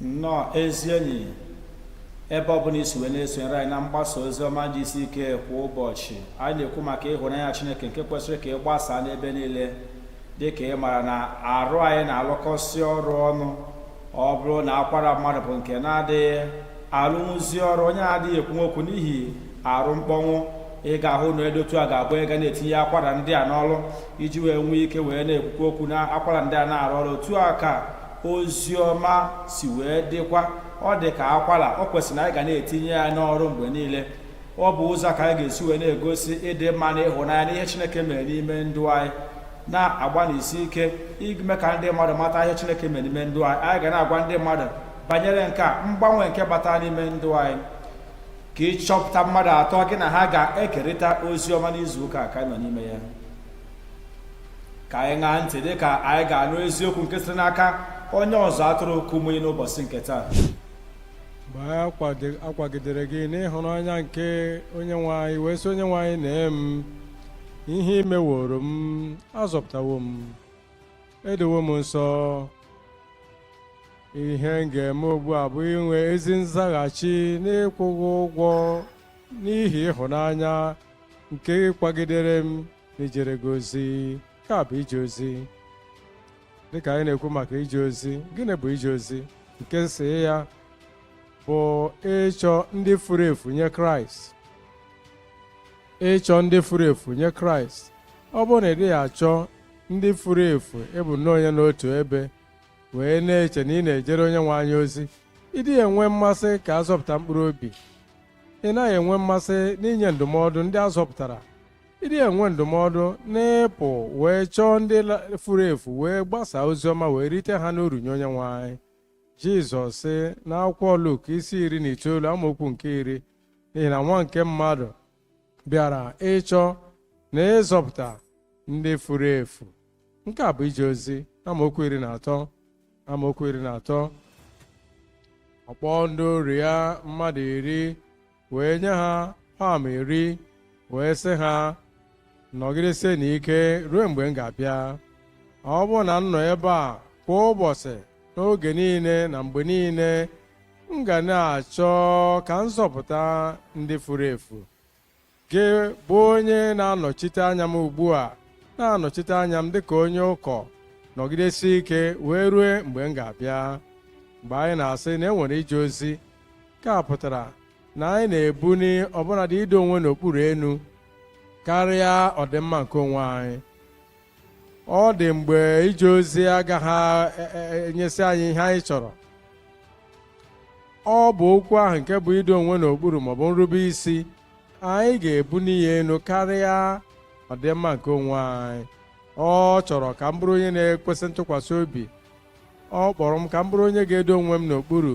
nnọọ ezi enyi ebe ọbụla i si wee na-esonyere anyị na mgbasa ozi ọma GCK kwa ụbọchị anyị na-ekwu maka ịhụnanya Chineke nke kwesịrị ka ị gbasaa n'ebe niile dị ka ị mara na arụ anyị na-alụkọsị ọrụ ọnụ ọ bụrụ na akwara mmadụ bụ nke na-adịghị alụnwuzi ọrụ onye adịghị ekwunwu okwu n'ihi arụ mkpọnwụ ị ga-ahụ na edotu a ga-abụ ị ga na-etinye akwara ndị a n'ọrụ iji wee nwee ike wee na-ekwukwa okwu na akwara ndị a na-arụ ọrụ otu a ka ozi ọma si wee dịkwa ọ dị ka akwara ọ kwesịrị na anyị ga na-etinye ya n'ọrụ mgbe niile ọ bụ ụzọ ka anyị ga-esi wee na-egosi ịdị mma na ịhụnanya n'ihe Chineke mere n'ime ndụ anyị na-agbanisi ike ime ka ndị mmadụ mata ihe Chineke mere n'ime ndụ anyị anyị ga na-agwa ndị mmadụ banyere nke a mgbanwe nke bata n'ime ndụ anyị ka ị chọpụta mmadụ atọ gị na ha ga-ekerịta ozi ọma n'izu ụka ka anyị nọ n'ime ya ka anyị ṅaa ntị dị ka anyị ga-anụ eziokwu nke site n'aka onye ọzụzụ atụrụ Kumuyi n'ụbọchị nke taa mgbe a kwagidere gị n'ịhụnanya nke onye nwe anyị wee sị onye nwe anyị nee m ihe i meworo m a zọpụtawo m e dowo m nsọ ihe m ga-eme ugbu a bụ inwe ezi nzaghachi n'ịkwụ gị ụgwọ n'ihi ịhụnanya nke ị kwagidere m ijere gị ozi nke a bụ ije ozi dịka anyị na-ekwu maka ije ozi gịnị bụ ije ozi nke isi ya bụ ịchọ ndị furu efu nye kraịst ịchọ ndị furu efu nye kraịst ọ bụrụ na ị dịghị achọ ndị furu efu ị bụ nnọọ onye nọ otu ebe wee na-eche na ị na-ejere onye nwe anyị ozi ị dịghị enwe mmasị ka a zọpụta mkpụrụ obi ị naghị enwe mmasị n'inye ndụmọdụ ndị a zọpụtara ị dịghị enwe ndụmọdụ n'ịpụ wee chọọ ndị la- furu efu wee gbasaa ozi ọma wee rite ha n'uru nye onye nwe anyị jizọs sị n'akwụkwọ luk isi iri na itoolu amaokwu nke iri n'ihi na nwa nke mmadụ bịara ịchọ na ịzọpụta ndị furu efu nke a bụ ije ozi amaokwu iri na atọ amaokwu iri na atọ ọ kpọọ ndị oru ya mmadụ iri wee nye ha paụn iri wee sị ha nọgidesienụ ike ruo mgbe m ga-abịa ọ bụrụ na m nọ ebe a kwa ụbọchị n'oge niile na mgbe niile m ga na-achọ ka m zọpụta ndị furu efu gị bụ onye na-anọchite anya m ugbu a na-anọchite anya m dịka onye ụkọ nọgidesie ike wee rue mgbe m ga-abịa mgbe anyị na-asị na e nwere ije ozi nke a pụtara na anyị na-ebuni ọbụnadị ido onwe n'okpuru enu karịa ọdịmma nke onwe anyị ọ dị mgbe ije ozi agaghị e, e, e, enyesi anyị ihe anyị chọrọ ọ bụ okwu ahụ nke bụ ido onwe n'okpuru maọbụ nrube isi anyị ga-ebuni ya enu karịa ọdịmma nke onwe anyị ọ chọrọ ka m bụrụ onye na-ekwesị ntụkwasị obi ọ kpọrọ m ka m bụrụ onye ga-edo onwe m n'okpuru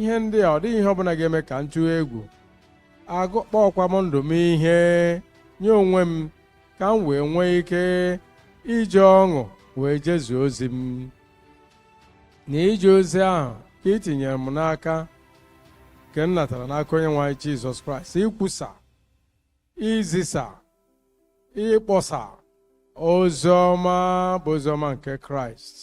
ihe ndị a ọ dịghị ihe ọbụla ga-eme ka m tụọ egwu agụkpọkwa m ndụ m ihe nye onwe m ka m wee nwee ike iji ọṅụ wee jezuo ozi m na ije ozi ahụ ka ị tinyere m n'aka nke m natara n'aka onye nwe anyị Jizọs Kraịst ikwusa izisa ịkpọsa ozi ọma bụ ozi ọma nke Kraịst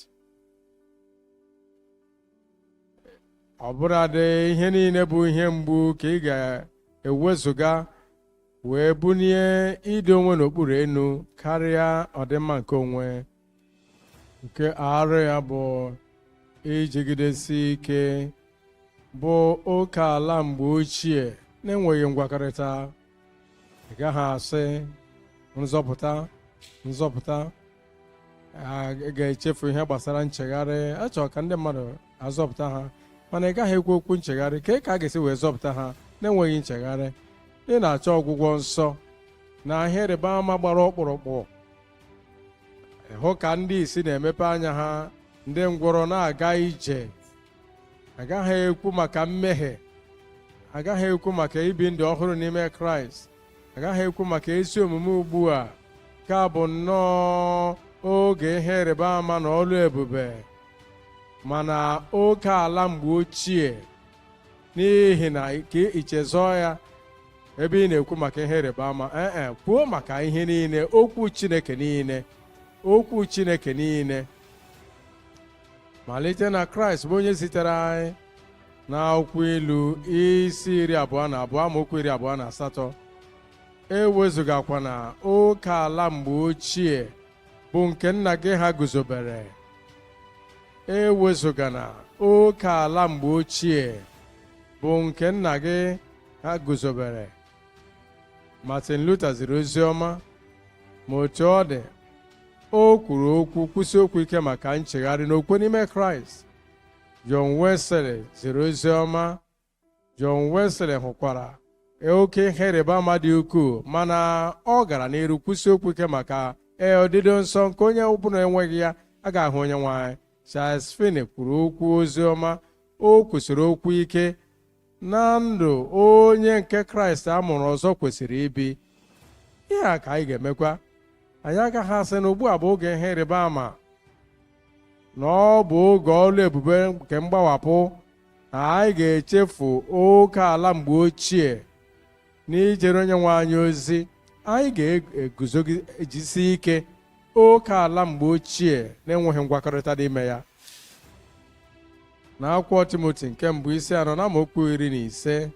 ọbụladị ihe niile bụ ihe mgbu ka ị ga-ewezụga wee bunie ido onwe n'okpuru enu karịa ọdịmma nke onwe nke arụ ya bụ ijigidesi ike bụ oke ala mgbe ochie na-enweghị ngwakọrịta ị gaghị asị nzọpụta nzọpụta a ga-echefu ihe gbasara nchegharị a chọrọ ka ndị mmadụ azọpụta ha mana ị gaghị ekwu okwu nchegharị kee ka a ga-esi wee zọpụta ha na-enweghị nchegharị ị na-achọ ọgwụgwọ nsọ na ihe ịrịba ama gbara ọkpụrụkpụ ịhụ ka ndị ìsì na-emepe anya ha ndị ngwọrọ na-aga ije agaghị ekwu maka mmehie agaghị ekwu maka ibi ndụ ọhụrụ n'ime kraịst agaghị ekwu maka ezi omume ugbu a ka bụ nnọọ oge ihe ịrịba ama na ọlụ ebube mana oke ala mgbe ochie n'ihi na ka i chezọọ ya ebe ị na-ekwu maka ihe ịrịba ama ee eh, eh, kwuo maka ihe niile okwu Chineke niile okwu Chineke niile malite na kraịst bụ onye zitere anyị na akwụkwọ ilu isi iri abụọ na abụọ amaokwu iri abụọ na asatọ ewezụgakwana oke ala mgbe ochie bụ nke nna gị ha guzobere ewezụgana oke ala mgbe ochie bụ nke nna gị ha guzobere Martin Luther ziri ozi ọma ma otu ọ dị o kwuru okwu kwusi okwu ike maka nchegharị na okwukwe n'ime Kraịst John Wesley ziri ozi ọma John Wesley hụkwara oke ihe ịrịba ama dị ukwuu mana ọ gara n'iru kwusi okwu ike maka ee odido nsọ nke onye ọbụla enweghị ya agaghị ahụ onye nwe anyị Charles Finney kwuru okwu ozi ọma o kwusiri okwu ike na ndụ onye nke kraịst a mụrụ ọzọ kwesịrị ibi ihe a ka anyị ga-emekwa anyị agaghị asị na ugbu a bụ oge ihe ịrịba ama na ọ bụ oge ọlụ ebube nke mgbawapụ na anyị ga-echefu oke ala mgbe ochie n'ijere onye nwe anyị ozi anyị ga-eguzogidesi ike oke ala mgbe ochie na-enweghị ngwakọrịta n'ime ya n'akwụkwọ timoti nke mbụ isi anọ na amaokwu iri na ise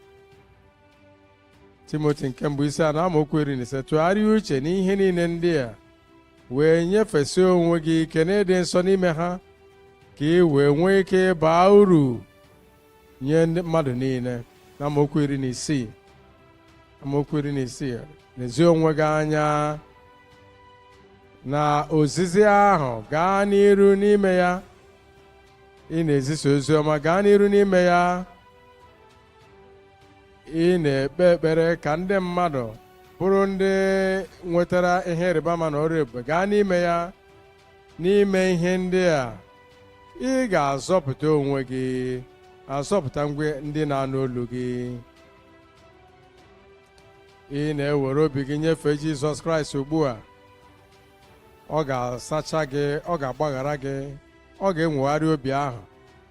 timoti nke mbụ isi anọ amaokwu iri na ise tụgharịa uche n'ihe niile ndị a wee nyefesie onwe gị ike n'ịdị nsọ n'ime ha ka ị wee nwee ike ịba uru nye ndị mmadụ niile na amaokwu iri na isii amaokwu iri na isii nezie onwe gị anya na ozizi ahụ gaa n'iru n'ime ya ị na-ezisa ozi ọma gaa n'iru n'ime ya ị na-ekpe ekpere ka ndị mmadụ bụrụ ndị nwetara ihe ịrịba ama na ọrụ ebube gaa n'ime ya n'ime ihe ndị a ị ga-azọpụta onwe gị azọpụta onwe ndị na-anụ olu gị ị na-ewere obi gị nyefee Jizọs Kraịst ugbu a ọ ga-asacha gị ọ ga-agbaghara gị ọ ga-enwogharị obi ahụ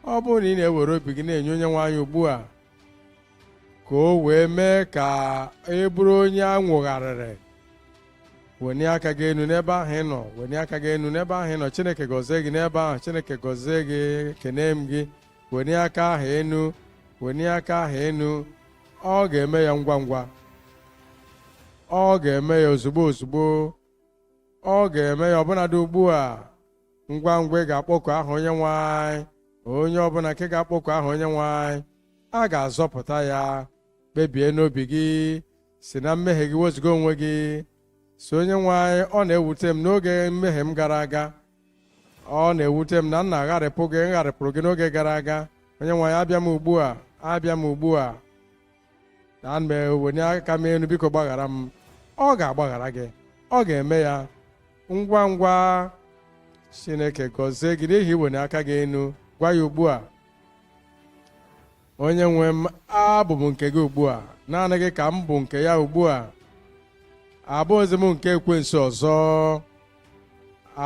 ọ bụrụ na ị na-ewere obi gị na-enye onye nwe anyị ugbu a ka o wee mee ka ị bụrụ onye a nwogharịrị wenie aka gị enu n'ebe ahụ ị nọ wenie aka gị enu n'ebe ahụ ị nọ chineke gọzie gị n'ebe ahụ chineke gọzie gị ekene m gị wenie aka ahụ enu wenie aka ahụ enu ọ ga-eme ya ngwa ngwa ọ ga-eme ya ozugbo ozugbo ọ ga-eme ya ọbụnadị ugbu a ngwa ngwa ị ga-akpọku aha onye nwe anyị onye ọbụla nke ga-akpọku aha onye nwe anyị a ga-azọpụta ya kpebie n'obi gị si na mmehie gị wezuga onwe gị sị onye nwe anyị ọ na-ewute m n'oge mmehie m gara aga ọ na-ewute m na m na-agharịpụ gị m gharịpụrụ gị n'oge gara aga onye nwe anyị abịa m ugbu a abịa m ugbu a na m eweni aka m enu biko gbaghara m ọ ga-agbaghara gị ọ ga-eme ya ngwa ngwa chineke gọzie gị n'ihi iweni aka gị enu gwa ya ugbu a onye nwe m abụ m nke gị ugbu a naanị gị ka m bụ nke ya ugbu a abụghịzi m nke ekwensu ọzọ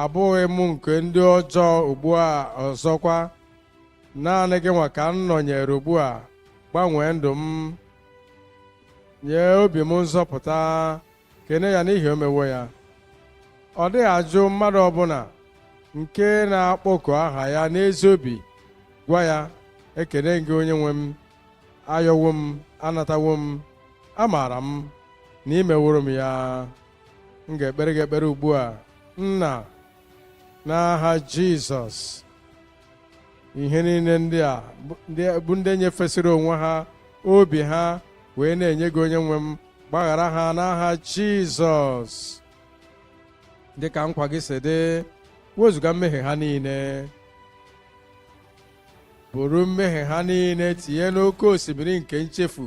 abụghị m nke ndị ọjọọ ugbu a ọzọkwa naanị gị nwa ka m nọnyere ugbu a gbanwee ndụ m nye obi m nzọpụta kene ya n'ihi o mewo ya ọ dịghị ajụ mmadụ ọbụla nke na-akpọku aha ya n'ezi obi gwa ya ekene gị onye nwe m ayọwo m anatawo m amaara m na i meworo m ya m ga-ekpere gị ekpere ugbu a nna n'aha jizọs ihe niile ndị a bụ ndị nyefesịrị onwe ha obi ha wee na-enye gị onye nwe m gbaghara ha n'aha jizọs dị ka nkwa gị si dị wezuga mmehie ha niile buru mmehie ha niile tinye n'oke osimiri nke nchefu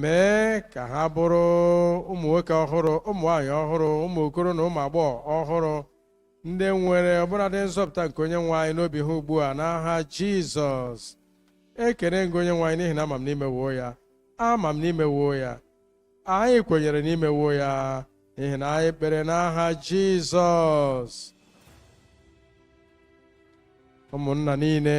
mee ka ha bụrụ ụmụ nwoke ọhụrụ ụmụ nwaanyị ọhụrụ ụmụ okoro na ụmụ agbọghọ ọhụrụ ndị nwere ọbụladị nzọpụta nke onye nwe anyị n'obi ha ugbu a n'aha jizọs ekene ngị onye nwe anyị n'ihi na ama m n'imewo ya ama m n'imewo ya anyị kwenyere n'imewo ya n'ihi na anyị kpere n'aha jizọs ụmụnna niile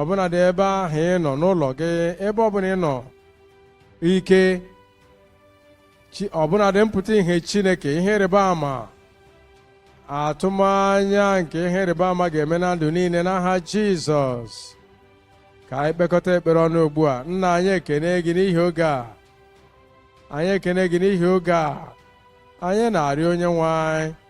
ọbụnadị ebe ahụ ị nọ n'ụlọ gị ebe ọbụla ị nọ ike ọbụnadị mpụta ihe chineke ihe ịrịba ama atụmanya nke ihe ịrịba ama ga-eme na ndụ niile n'aha jizọs ka anyị kpekọta ekpere ọnụ ugbu a nna anyị ekene gị n'ihi oge a anyị ekene gị n'ihi oge a anyị na-arịọ onye nwe anyị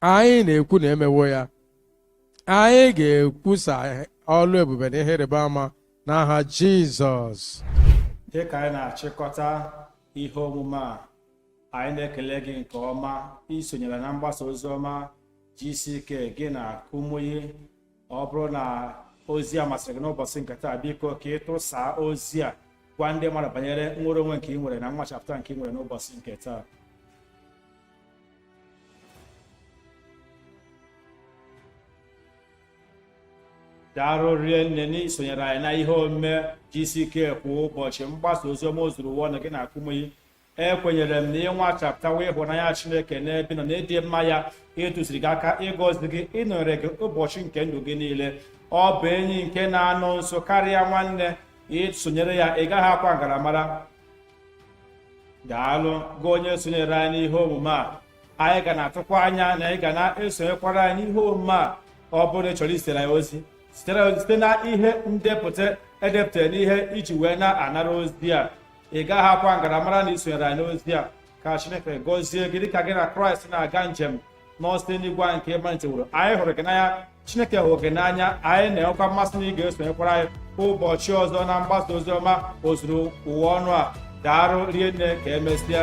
anyị na-ekwu na e mewo ya anyị ga-ekwusa ọlụ ebube na ihe ịrịba ama n'aha Jizọs dị ka anyị na-achịkọta ihe omume a anyị na-ekele gị nke ọma isonyere na mgbasa ozi ọma GCK gị na Kumuyi ọ bụrụ na ozi a masịrị gị n'ụbọchị nke taa biko ka ị tụsaa ozi a gwa ndị mmadụ banyere nnwere onwe nke i nwere na nnwachapụta nke i nwere n'ụbọchị nke taa daalụ rinne n'isonyere anyị na ihe omume GCK kwa ụbọchị mgbasa oziọma ozuru ụwa ọnụ gị na Kumuyi ekwenyere m na ị nwachapụtawa ịhụnanya chineke n'ebe ị nọ na ịdị mma ya ịtụziri gị aka ịgọzi gị ịnọnyere gị ụbọchị nke ndụ gị niile ọ bụ enyi nke na-anọ nso karịa nwanne i sonyere ya ị gaghị akwa ngaramara daalụ gị onye sonyere anyị n'ihe omume a anyị ga na-atụkwa anya na ị ga na-esonyekwara anyị n'ihe omume a ọ bụrụ na ị chọrọ izitere ya ozi site na ihe ndepụta e depụtara n'ihe i ji wee na-anara ozi a ị gaghị akwa ngaramara na i sonyere anyị n'ozi a ka chineke gọzie gị dịka gị na kraịst na-aga njem n'ọsọ eluigwe anyị nke ị maliteworo anyị hụrụ gị n'anya chineke hụrụ gị n'anya anyị na-enwekwa mmasị na ị ga-esonyekwara anyị ụbọchị ọzọ na mgbasa ozi ọma ozuru ụwa ọnụ a daarụ rie nne ka emesịa